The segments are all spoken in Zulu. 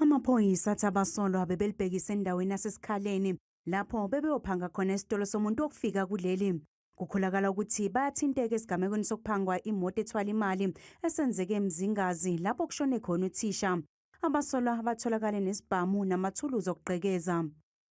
Amaphoyisa athi abasolwa bebelibhekise endaweni yasesikhaleni lapho bebeyophanga khona esitolo somuntu wokufika kuleli. Kukholakala ukuthi bayathinteka esigamekweni sokuphangwa imoto ethwala imali esenzeke eMzingazi lapho kushone khona uthisha. Abasolwa batholakale nesibhamu namathuluzi okugqekeza.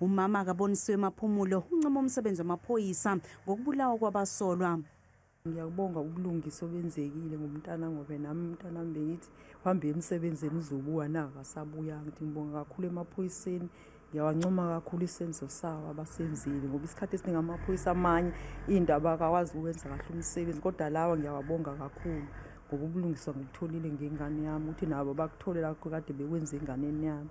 Umama akabonisiwe maphumulo uncoma umsebenzi wamaphoyisa ngokubulawa kwabasolwa. Ngiyakubonga ubulungisa obenzekile ngomntana ngoba nami umntana wami bengithi uhambe emsebenzini uzobuya na akasabuya ngithi ngibonga kakhulu emaphoyiseni ngiyawancoma kakhulu isenzo sawo abasenzile ngoba isikhathi esiningi amaphoyisa amanye into abakakwazi ukwenza kahle umsebenzi kodwa lawa ngiyawabonga kakhulu ngoba ubulungiswa ngikutholile ngengane yami ukuthi nabo bakuthole lakho kade bekwenza enganeni yami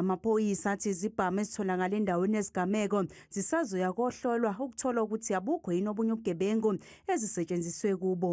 Amaphoyisa athi izibhamu ezitholakala endaweni yesigameko zisazoya kohlolwa ukuthola ukuthi abukho yini obunye ubugebengu ezisetshenziswe kubo.